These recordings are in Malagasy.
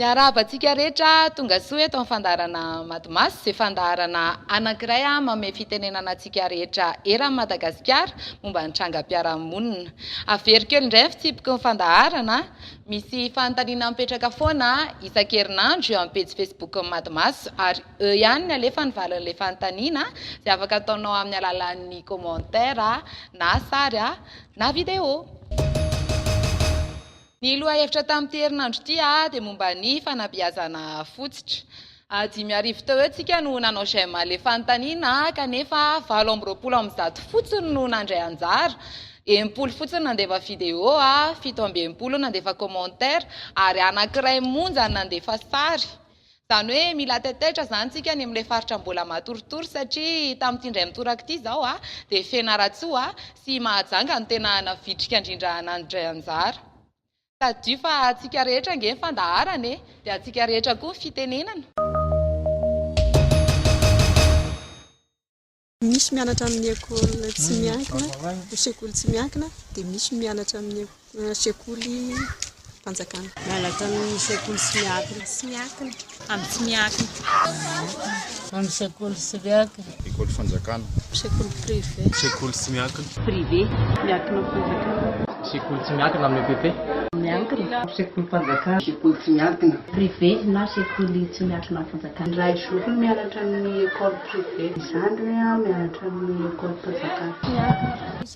Miarahaba antsika rehetra tonga soa eto amin'ny fandaharana Madmas izay fandaharana anankiray manome fitenenana antsika rehetra eran'i Madagasikara momba ny trangam-piarahamonina. Averiko eo indray ny fitsipiky ny fandaharana Misy fanontaniana mipetraka foana isan-kerinandro eo amin'ny pejy Facebook-n'ny Madmaso ary eo ihany ny alefa ny valin'ilay fanontaniana izay afaka ataonao amin'ny alalan'ny commentaire na sary na video. Ny lohahevitra tamin'ity herinandro ity dia momba ny fanabeazana fotsitra. A Dimy arivo teo eo tsika no nanao j'aime an'ilay fanontaniana kanefa valo amby roapolo amby zato fotsiny no nandray anjara, enimpolo fotsiny nandefa video, fito amby enimpolo nandefa commentaire ary anankiray monja no nandefa sary. Izany hoe mila taitaitra izany tsika any amin'ilay faritra mbola matoritory satria tamin'ity indray mitoraka ity izao dia Fianarantsoa sy Mahajanga no tena navitrika indrindra nandray anjara. Tadidio fa antsika rehetra ange ny fandaharana e! Dia antsika rehetra koa ny fitenenana. Misy mianatra amin'ny ecole tsy miankina, ny sekoly tsy miankina, dia misy mianatra amin'ny sekoly fanjakana. Mianatra amin'ny sekoly tsy miankina. Amin'ny tsy miankina. Amin'ny sekoly tsy miankina. Ekoly fanjakana. Sekoly privé. Sekoly tsy miankina. Privé. Miankina amin'ny fanjakana. Sekoly tsy miankina amin'ny EPP. Miankina. Sekoly fanjakana. Sekoly tsy miankina. Privé na sekoly tsy miankina amin'ny fanjakana. Raha i Zofy no mianatra amin'ny ekoly privé. Ny zandriny mianatra amin'ny ekolim-panjakana. Tsy miankina.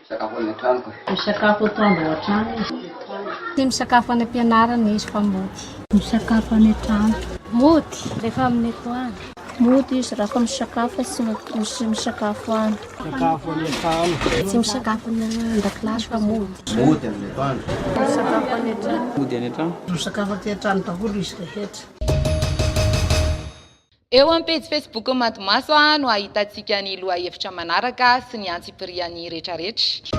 Misakafo any an-tranoko izy. Misakafo atoandro ao an-trano izy. Tia misakafo any am-pianarana izy fa mody. Misakafo any an-trano. Mody rehefa amin'ny atoandro. Mody izy raha fa misakafo fa tsy misakafo any. Misakafo any an-trano. Tsy misakafo any an-dakilasy fa mody. Mody amin'ny atoandro. Misakafo any an-trano. Mody any an-trano. Misakafo aty an-trano daholo izy rehetra. Eo amin'ny pejy Facebook-n'ny Matimaso no hahitantsika ny lohahevitra manaraka sy ny antsipiriany retraretra.